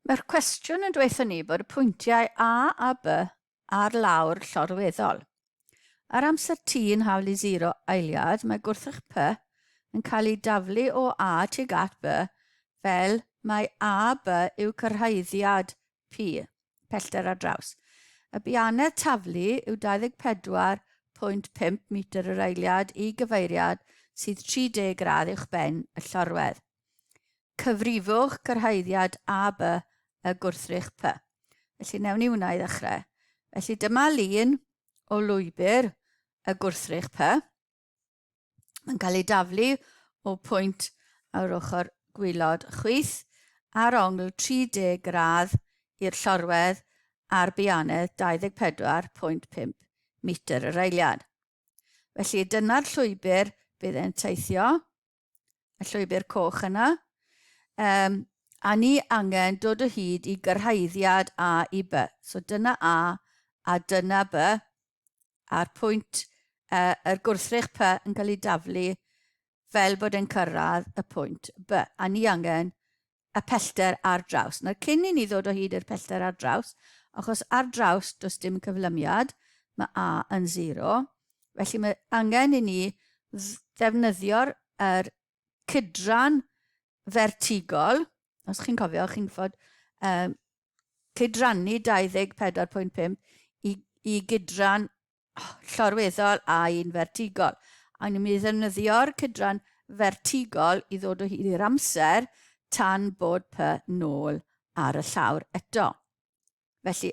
Mae'r cwestiwn yn dweud ni bod y pwyntiau A a B ar lawr llorweddol. Ar amser T yn hawl i 0 eiliad, mae gwrthrych P yn cael ei daflu o A tuag at B fel mae A, B yw cyrhaeddiad P. pellter ar draws. Y bianedd taflu yw 24.5 metr yr eiliad i gyfeiriad sydd 30 gradd uwch ben y llorwedd. Cyfrifwch cyrhaeddiad A, B y gwrthrych P. Felly newn ni hwnna i ddechrau. Felly dyma lun o lwybr y gwrthrych P. yn cael ei daflu o pwynt ar ochr gwylod chwith ar ongl 30 gradd i'r llorwedd ar bianedd 24.5 metr yr eiliad. Felly dyna'r llwybr bydd e'n teithio, y llwybr coch yna, um, a ni angen dod o hyd i gyrhaeddiad A i B. So dyna A a dyna B, a'r pwynt yy yr gwrthrych py yn cael ei daflu fel bod e'n cyrraedd y pwynt by, a ni angen y pellter ar draws. Nawr cyn i ni ddod o hyd i'r pellter ar draws, achos ar draws does dim cyflymiad, mae A yn 0, felly mae angen i ni ddefnyddio'r er cydran fertigol, os chi'n cofio, chi'n fod um, cydrannu 24.5 i, i gydran llorweddol a un fertigol. A ni'n mynd i ddefnyddio'r cydran fertigol i ddod o hyd i'r amser tan bod py nôl ar y llawr eto. Felly,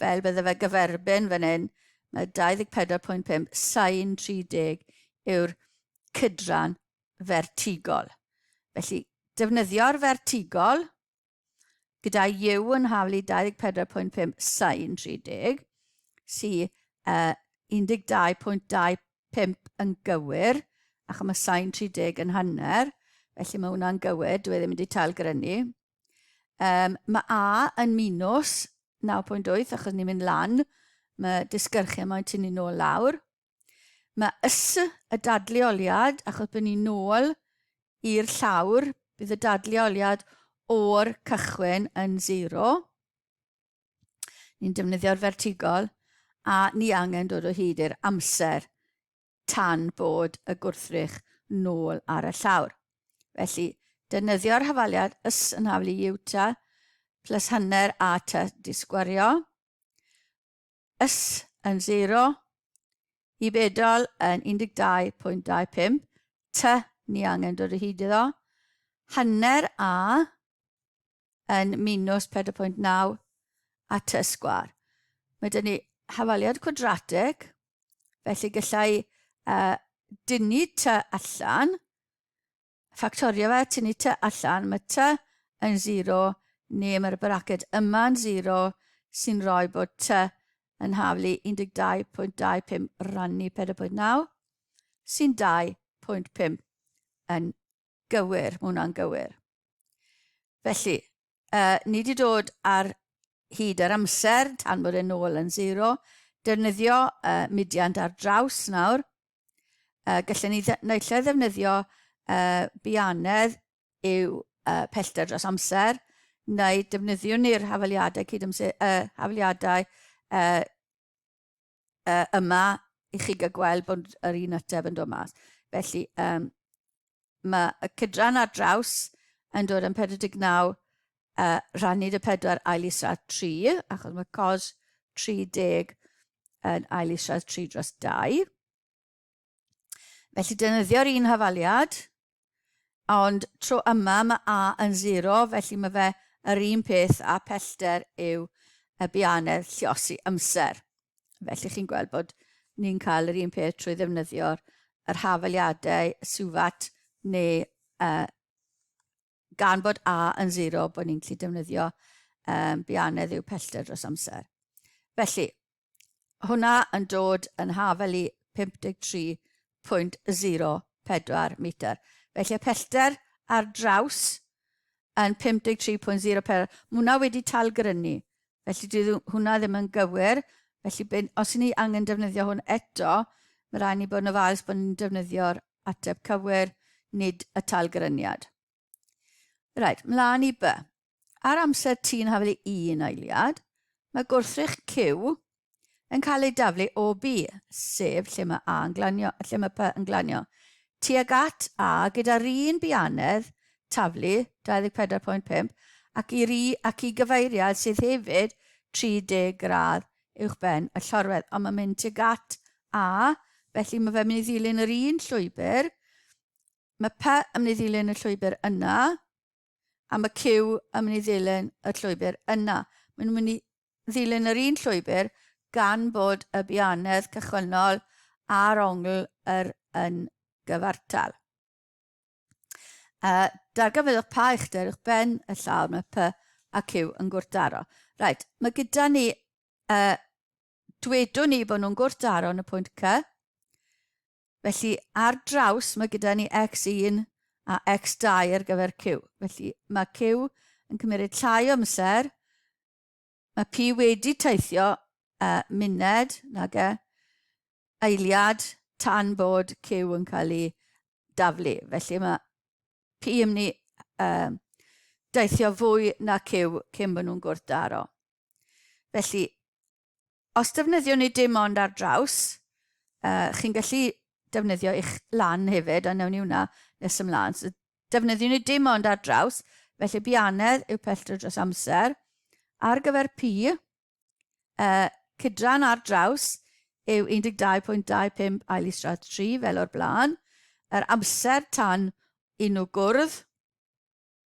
fel bydde fe gyferbyn fan hyn, mae 24.5, sain 30 yw'r cydran fertigol. Felly, defnyddio'r fertigol gyda yw yn haflu 24.5 sain 30, sy uh, 12.25 yn gywir, ac mae sain 30 yn hanner, felly mae hwnna'n gywir, dwi e ddim wedi tail grynu. Um, mae A yn minus 9.8 achos ni'n mynd lan. Mae disgyrchiau mae'n tynnu nôl lawr. Mae ys y dadleoliad, achos byddwn ni'n nôl i'r llawr, bydd y dadleoliad o'r cychwyn yn zero. Ni'n defnyddio'r fertigol a ni angen dod o hyd i'r amser tan bod y gwrthrych nôl ar y llawr. Felly, defnyddio'r hafaliad ys yn haflu ieuta plus hanner a ty disgwario, ys yn 0, i bedol yn 12.25, ty ni angen dod o hyd iddo, hanner a yn minws 4.9 a ty sgwar. Mae dyn ni hafaliad cwadrateg, felly gallai uh, dynnu ty allan, ffactorio fe, tynnu ty allan, mae ty yn 0, neu mae'r braced yma'n 0, sy'n rhoi bod ty yn haflu 12.25 rannu 4.9, sy'n 2.5 yn Gywir, mae hwnna'n gywir. Felly, uh, ni wedi dod ar hyd yr amser tan bod e'n ôl yn zero. Defnyddio uh, mudiant ar draws nawr. Uh, gallwn ni naill lle ddefnyddio uh, bianedd yw uh, pellter dros amser, neu defnyddiwn ni'r hafaliadau cydamser, uh, hafaliadau uh, uh, yma i chi gael gweld bod yr un ateb yn dod mas. Felly, um, mae y cydran ar draws yn dod yn 49 uh, rannu y 4 ail israd 3, achos mae cos 30 yn ail israd 3 dros 2. Felly dynyddio'r un hafaliad, ond tro yma mae A yn 0, felly mae fe yr un peth a pellter yw y bianedd lliosi amser. Felly chi'n gweld bod ni'n cael yr un peth trwy ddefnyddio'r yr hafaliadau suvat neu uh, Gan bod A yn 0, bod ni'n gallu defnyddio um, bianedd i'w pellter dros amser. Felly, hwnna yn dod yn hafel i 53.04 metr. Felly, y pellter ar draws yn 53.04, mae hwnna wedi talgrynu Felly dyw hwnna ddim yn gywir. Felly be, os ni angen defnyddio hwn eto, mae rhaid ni bod yn ofalus bod ni'n defnyddio'r ateb cywir, nid y talgyryniad. Rhaid, mlaen i by. Ar amser ti'n hafelu un eiliad, mae gwrthrych Q yn cael eu daflu o B, sef lle mae A yn glanio, lle mae P yn glanio, tuag at A gyda'r un bianedd taflu, 24.5, ac i, ri, ac i gyfeiriad sydd hefyd 30 gradd uwchben y llorwedd, ond mae'n mynd tuag at A, felly mae fe'n mynd i ddilyn yr un llwybr, mae P yn mynd i ddilyn y llwybr yna, am y cyw yn mynd i ddilyn y llwybr yna. Mae'n mynd i ddilyn yr un llwybr gan bod y bianedd cychwynnol a'r ongl yr yn gyfartal. Uh, darganfyddwch pa uchder uwch ben y llawr mae P a Q yn gwrthdaro. Right, mae gyda ni uh, dwedwn ni bod nhw'n gwrthdaro yn y pwynt C. Felly, ar draws, mae gyda ni X1 a X2 ar gyfer Q. Felly, mae Q yn cymryd llai o amser. Mae P wedi teithio uh, muned, nag e, eiliad tan bod Q yn cael ei daflu. Felly mae P yn mynd i uh, deithio fwy na Q cyn bod nhw'n gwrthdaro. Felly, os defnyddiwn ni dim ond ar draws, uh, chi'n gallu defnyddio eich lan hefyd, a newn ni hwnna nes ymlaen. So, defnyddiwn ni dim ond ar draws, felly bianedd yw pellter dros amser. Ar gyfer pi, uh, cydran ar draws yw 12.25 ail isradd 3 fel o'r blaen. Yr amser tan i nhw gwrdd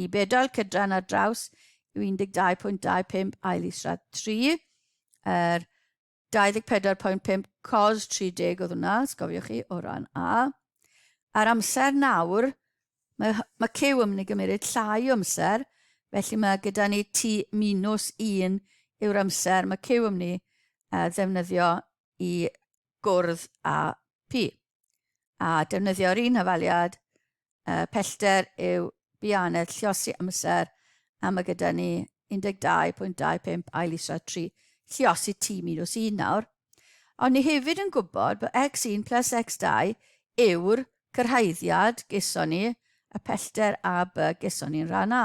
Y bedail cydran ar draws yw 12.25 ail israd 3, yr 24.5 cos 30 oedd hwnna, os cofiwch chi, o ran A. A'r amser nawr, mae, mae cyw yn mynd i gymryd llai o amser, felly mae gyda ni T minus 1 yw'r amser mae cyw yn mynd i ddefnyddio i gwrdd â P. a defnyddio'r un hafaliad uh, pellter yw bianedd lliosi amser a mae gyda ni 12.25 ail isra 3 lliosi T minus 1 nawr. Ond ni hefyd yn gwybod bod x1 plus x2 yw'r cyrhaeddiad geson ni y pellter a by geson ni'n rhan A.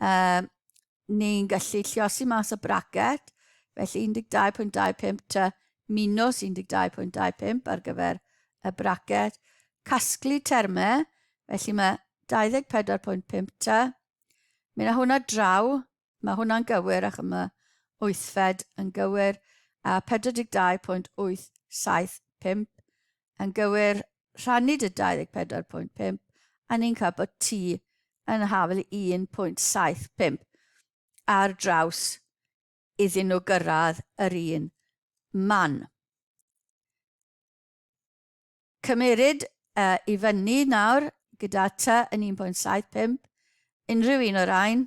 Um, ni'n gallu lliosi mas y bracet, felly 12.25 ta minus 12.25 ar gyfer y bracet. Casglu termau, felly mae 24.5 ta. Mae yna hwnna draw, mae hwnna'n gywir ac yma wythfed yn gywir, a 42.875 Yn gywir, rhannu dy 24.5 a ni'n cael bod ti yn hafel 1.75 ar draws iddyn nhw gyrraedd yr un man. Cymeryd uh, i fyny nawr gyda ty yn 1.75 unrhyw un o'r rhain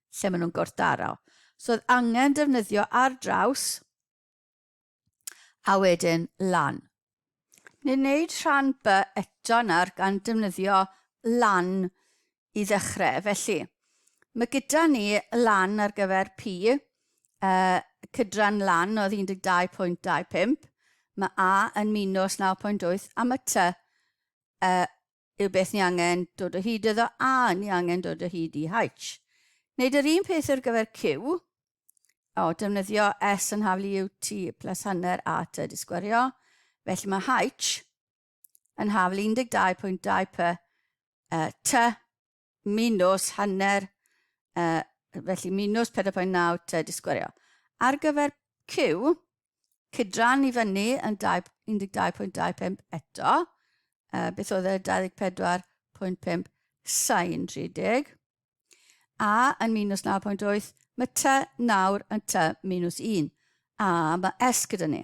lle maen nhw'n gwrthdaro. So oedd angen defnyddio ar draws a wedyn lan. Ni'n gwneud rhan B eto nawr gan defnyddio lan i ddechrau. Felly, mae gyda ni lan ar gyfer P, uh, cydran lan oedd 12.25, mae A yn minus 9.8 a mae T uh, yw beth ni angen dod o hyd iddo a ni angen dod o hyd i H. Wneud yr un peth ar gyfer Q, o, defnyddio S yn haflu yw T plus hanner A T di sgwario, felly mae H yn haflu 12.2 P uh, T minws hanner, uh, felly minws 4.9 te disgwario. Ar gyfer Q, cydran i fyny yn 12.25 eto, uh, beth oedd e 24.5 sain 30, a yn minws 9.8, mae te nawr yn te minws 1, a mae S gyda ni.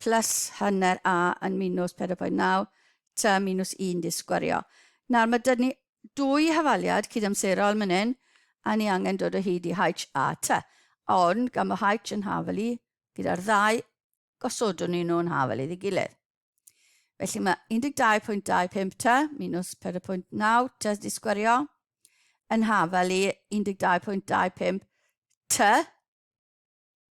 plus hanner a yn minws 4.9 tua minws 1 di sgwario. Nawr mae dyn ni dwy hafaliad cydamserol man hyn a ni angen dod o hyd i H a T. Ond gan bod H yn hafal i, gyda'r ddau gosodwn ni nhw'n hafal iddi gilydd. Felly mae 12.25 ta minus 4.9 ta di sgwario yn hafal i 12.25 ta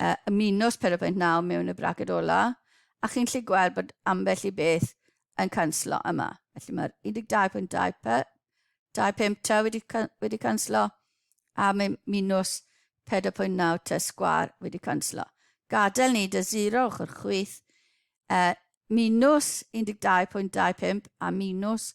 uh, ymunos Perefaint Naw mewn y braced ola, a chi'n lli gweld bod ambell i beth yn canslo yma. Felly mae'r 12.25 ta wedi, wedi canslo, a mae minws 4.9 ta sgwar wedi canslo. Gadael ni dy 0 ochr chwyth, uh, minws 12.25 a minws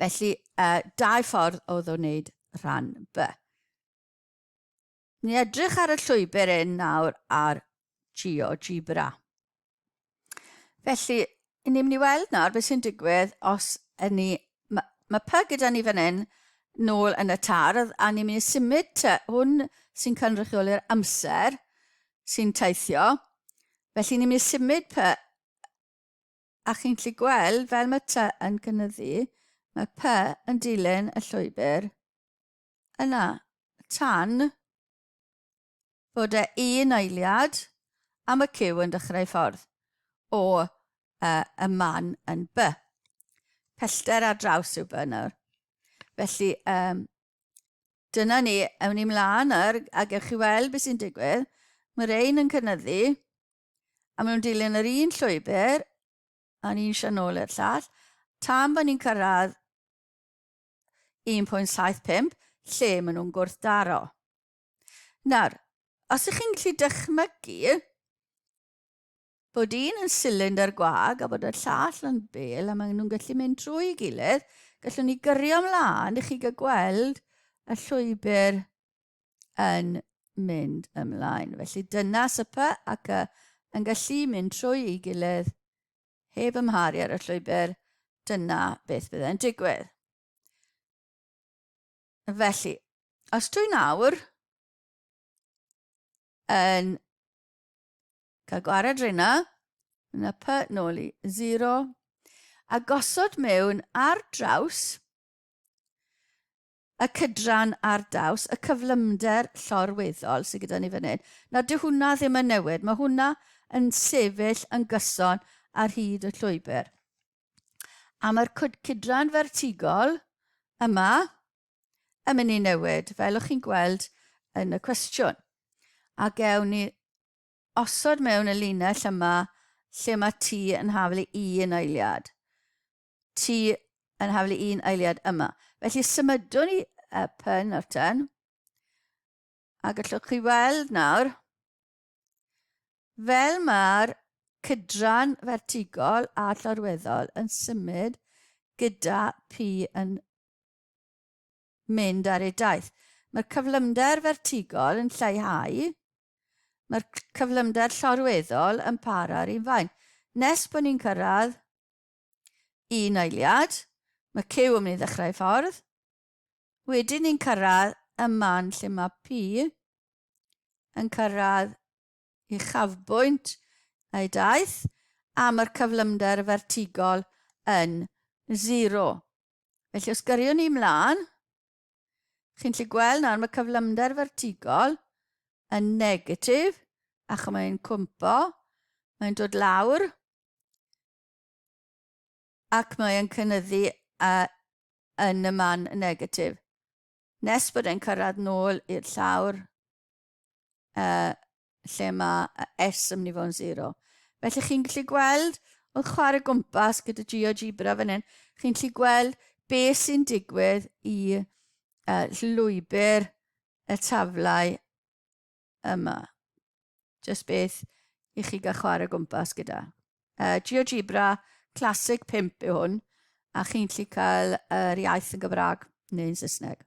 Felly, uh, dau ffordd o ddo wneud rhan B. Ni edrych ar y llwybr yn nawr ar GeoGebra. Felly, i ni'n mynd i weld nawr beth sy'n digwydd os yn ni... Mae ma py gyda ni fan hyn nôl yn y tardd a ni'n mynd i symud te. Hwn sy'n cynrychioli'r amser sy'n teithio. Felly ni'n mynd i symud py A chi'n gallu gweld, fel mae T yn cynyddu, mae P yn dilyn y llwybr yna, tan bod e un eiliad a mae Q yn dechrau ffordd o uh, y man yn B. Pellter ar draws yw B nawr. Felly, um, dyna ni, ewn ni mlaen nawr, a gewch chi weld beth sy'n digwydd. Mae'r ein yn cynyddu, A maen nhw'n dilyn yr un llwybr, a'n un sian ôl i'r llall, tan bod ni'n cyrraedd 1.75, lle maen nhw'n gwrthdaro. Nawr, os ych chi'n gallu dychmygu bod un yn silindr gwag a bod y llall yn bel a maen nhw'n gallu mynd trwy gilydd, gallwn ni gyrio ymlaen i chi gael gweld y llwybr yn mynd ymlaen. Felly dyna sypa ac y, yn gallu mynd trwy ei gilydd heb ymharu ar y llwybr, dyna beth bydde'n digwydd. Felly, os dwi nawr yn cael gwared rhywna, yn y py nôl i 0, a gosod mewn ar draws y cydran ar daws y cyflymder llorweddol sydd gyda ni fan hyn, na dyw hwnna ddim yn newid, mae hwnna yn sefyll yn gyson ar hyd y llwybr. A mae'r cydran fertigol yma yn mynd i newid, fel o'ch chi'n gweld yn y cwestiwn. A gewn ni osod mewn y linell yma lle mae T yn haflu un eiliad. ti yn haflu un eiliad yma. Felly symudwn i y pen o'r ten. A gallwch chi weld nawr, fel mae'r cydran fertigol a llorweddol yn symud gyda pi yn mynd ar ei daith. Mae'r cyflymder fertigol yn lleihau, mae'r cyflymder llorweddol yn para ar un fain. Nes bod ni'n cyrraedd Un eiliad, mae Cyw yn mynd i ddechrau ei ffordd. Wedyn ni'n cyrraedd y man lle mae Pi yn cyrraedd i chafbwynt ei daith a mae'r cyflymder fertigol yn zero. Felly os gyriwn ni mlaen, chi'n lle gweld nawr mae cyflymder fertigol yn negatif ac mae'n cwmpo, mae'n dod lawr ac mae e'n cynyddu a yn y man negatif nes bod e'n cyrraedd nôl i'r llawr uh, lle mae S yn mynd i fod yn 0. Felly chi'n gallu gweld, oedd chwarae gwmpas gyda GeoGebra fan hyn, chi'n gallu gweld be sy'n digwydd i uh, llwybr y taflau yma. Jyst beth i chi gael chwarae gwmpas gyda. Uh, GeoGebra Classic 5 yw hwn, a chi'n gallu cael yr iaith yn Gymraeg neu'n Saesneg.